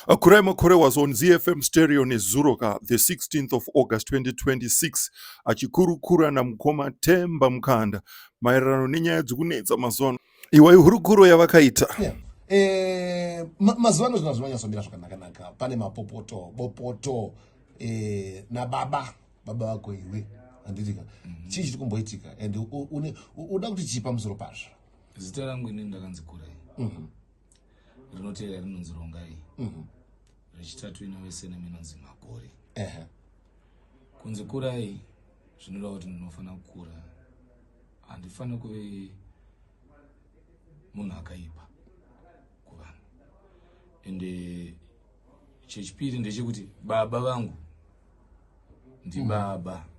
Akurai Makore was on ZFM stereo nezuro ka the 16th of August 2026 achikurukura namukoma Temba Mukanda maererano nenyaya dzokunetsa mazuva ano. Iwa ihurukuro yavakaita. Yeah. Eh, ma, mazuva ano zvinhu zvinonyatsomira zvakanakanaka pane mapopoto bopoto eh, nababa baba vako iwe handitika mm -hmm. chii chiri kumboitika and uda kuti chii pamusoro pazvo zita rangu ini ndakanzi kurai mm -hmm. rinotevera rinonzi rongai mhm. rechitatu inove senema inonzi makore kunzi kurai zvinoda kuti ndinofanira kukura handifaniri kuve munhu akaipa kuvanhu ende chechipiri ndechekuti baba vangu ndibaba mm.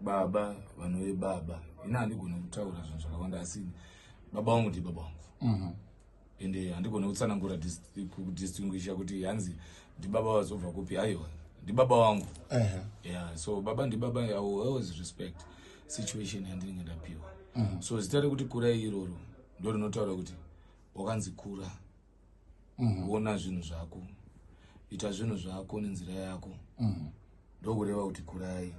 baba vanove baba ini handigone kutaura zvinhu zvakawanda asi baba vangu ndi baba vangu mhm. ende handigone kutsanangura kudistinguisha kuti hanzi ndibaba vazobva kupi aiwa ndibaba vangu ya so baba ndibaba i always respect situation yandinenge ndapiwa mhm. so zita rekuti kura iroro ndo rinotaura kuti wakanzi kura mm. ona zvinhu zvako ita zvinhu zvako nenzira yako mm. ndokureva kuti kurai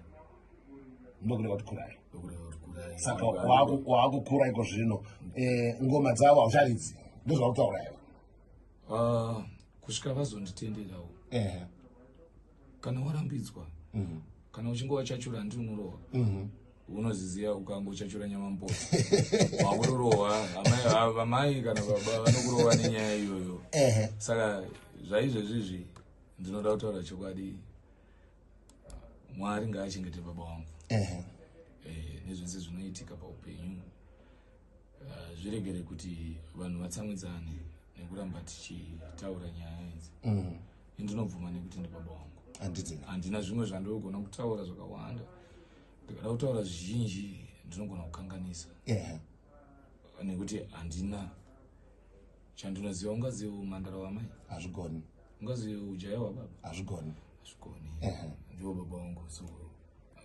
ndokureva kuti kurai ndokureva kuti kurai saka waakukura iko zvino eh, ngoma dzavo haucharidzi ndozvautaura ivo ah, kusvika vazonditenderawo kana warambidzwa mm. kana uchinge wachachura handi unorohwa mm -hmm unoziziva ukanga uchachura nyama mpo wakurorohwa vamai kana baba vanokurova nenyaya iyoyo saka zvaizvezvizvi ndinoda kutaura chokwadi mwari ngaachengete baba wangu eh, nezvese zvinoitika paupenyu ah, zviregere kuti vanhu vatsamwidzane nekuramba tichitaura nyaya idzi mm. ndinobvuma nekuti ndibaba wangu handina zvimwe zvandinogona kutaura zvakawanda ndikada kutaura zvizhinji ndinogona kukanganisa nekuti handina chandinoziva ungaziva umandara wamai hazvigoni ungaziva ujaya wababa hazvigoni hazvigoni ndivo baba wangu so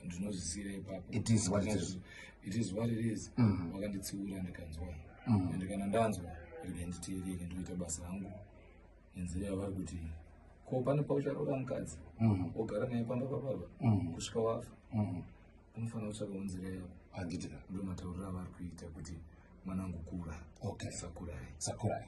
ndinozvisira ipapo it is what it is it is what it is mm. wakanditsiura ndikanzwa mm. and kana ndanzwa rega nditeerere ndoita basa rangu nenzira yavari kuti ko pane paucharora mukadzi mm. ogara naye pamba pababa mm. kusvika wafa mm. unofanira kutsvakawo nzira yavo handiti ndomatauriro avari kuita kuti mwanangu kura okay. sakurai sakurai